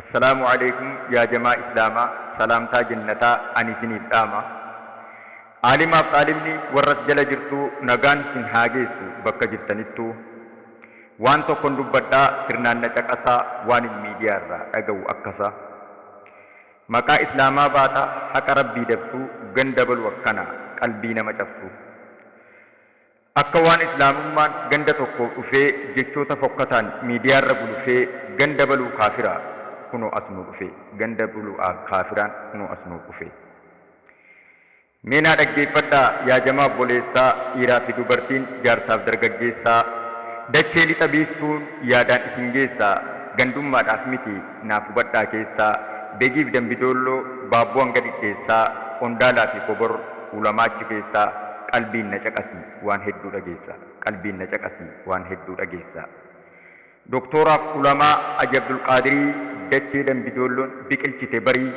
Assalaamu Aleeykum yaa jamaa islaamaa salaamtaa jennataa ani isiniif dhaama Aalimaaf xaalibni warras jala jirtuu nagaan sin haa geessu bakka jirtanittuu Waan tokkon dubbadhaa sirnaan na caqasaa waanin miidiyaa irraa dhaga'u akkasa Maqaa islaamaa baata haqa rabbii dabsuu gan dabalu akkana qalbii nama cabsu Akka waan Islaamummaan ganda tokkoo dhufee jechoota fokkataan miidiyaarra gulufee ganda baluu kaafiraa kunoo as nuu dhufe ganda bulu kaafiraan kunoo as nuu dhufe Mee naa dhaggeeffadhaa yaa jamaa obboleessaa dhiiraa fi dubartiin jaarsaaf dargaggeessaa Dachee lixa biiftuun yaadaan isin geessaa Gandummaadhaaf miti naaf hubadhaa keessaa, Begiif Dambidoolloo, Baabboo hanga Dhidheessaa, Qondaalaa fi Kobor, Ulamaa achi keessaa, Qalbiin na caqasi waan hedduu dhageessa, Qalbiin na caqasi waan hedduu dhageessa. Doktooraaf Ulamaa Aji Abdulqaadirii, Dachee Dambidoolloon biqilchite barii,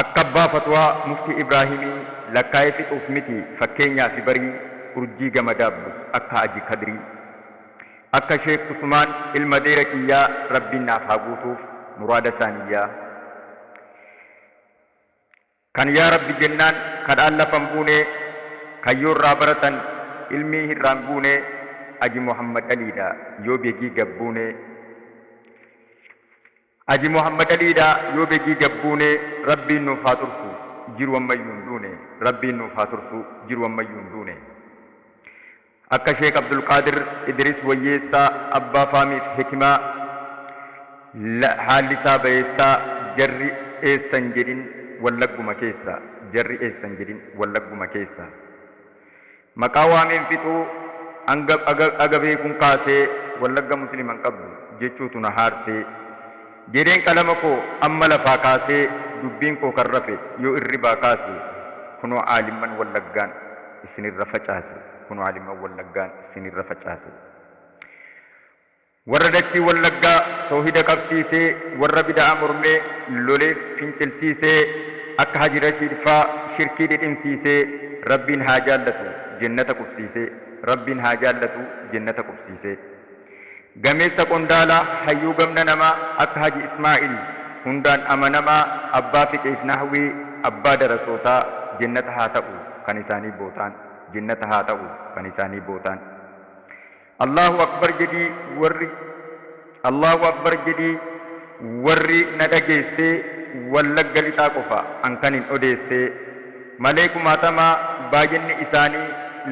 Akka abbaa fatwaa muftii ibraahimii lakkaa'ee fixuuf miti fakkeenyaafi barii urjii gama daabbus akka haji kadirii akka sheek usumaan ilma deera kiyyaa rabbiin naaf haa guutuuf muraada saaniyyaa kan yaa rabbi jennaan kadhaan lafa hin buunee kayyoo irraa baratan ilmii hirraa hin guunee haji mohammed aliidha yoo begii gab buunee. Aji Mohammed Alii dha yoo begii gabbuune rabbiin nuuf haa tursu jiru ammayyu hin duune rabbiin nuuf haa tursu jiru ammayyu hin duune Akka sheek Abdulqaadir Idiris Wayyeessaa abbaa faamiif hikimaa la haalli isaa bayeessaa jarri eessa hin jedhin wallagguma keessa jarri eessa hin jedhin wallagguma keessa Maqaa waameen fixuu hanga aga beekun kaasee wallagga muslima hin qabdu jechuutu na haarsee. Jedheen qalama koo amma lafaa kaasee dubbiin koo kan rafe yoo irribaa kaase kunoo aalimman wallaggaan isinirra facaase kunoo aalimman wallaggaan isinirra facaase. Warra dachii wallaggaa towhida qabsiisee warra bida'a mormee lole fincilsiisee akka haji rashiid faa shirkii dhidhimsiisee rabbiin haa jaallatu jennata qubsiisee rabbiin haa jaallatu jennata qubsiisee gameessa qondaala hayyuu gamna namaa akka haji ismaa'il hundaan amanamaa abbaa fiqiif nahwii abbaa darasootaa jennata haa ta'u kan isaanii bootaan jennata haa ta'u kan isaanii bootaan. Allaahu Akbar jedhii warri Allaahu Akbar jedhii warri na dhageessee Wallagga Lixaa qofa an kanin odeessee Malee kumaatamaa baay'inni isaanii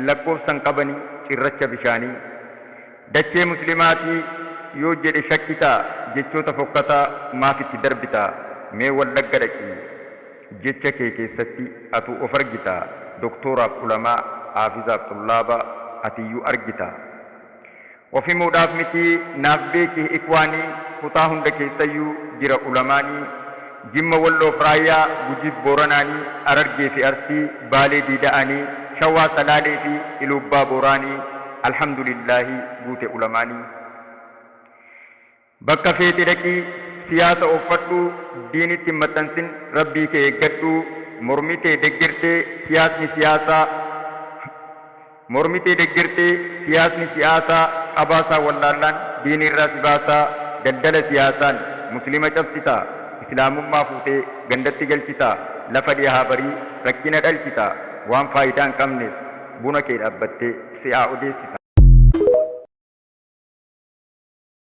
Lakkoofsan qabani cirracha bishaanii Dachee muslimaatii yoo jedhe shakkitaa Jechoota fokkataa maaf itti darbitaa Mee Wallagga dhaqii Jecha kee keessatti atu of argita, doktooraaf ulamaa, haafizaaf xullaaba, atiyyuu argita. Of himuudhaaf miti naaf beeki ikwaani kutaa hunda keessayyu jira ulamaani, Jimma Walloof Raayyaa, Gujiif Booranaani, Arargee fi Arsii, Baalee Diida'aani, Shawaa Salaalee fi Iluubbaa Booraani, Alhamdulillaahi guute ulamaani. Bakka feete dhaqii siyaasa ooffadhuu diinitti hin maxxansin rabbii kee eeggadhuu mormitee deggertee siyaasni siyaasaa mormitee deggertee siyaasni si'aasaa qabaasaa wallaallaan diiniirraa si baasaa daldala siyaasaan muslima cabsitaa islaamummaa fuutee gandatti galchitaa lafa dhihaa barii rakkina dhalchitaa waan faayidaa hin qabneef buna kee dhaabbattee si'aa odeessitaa.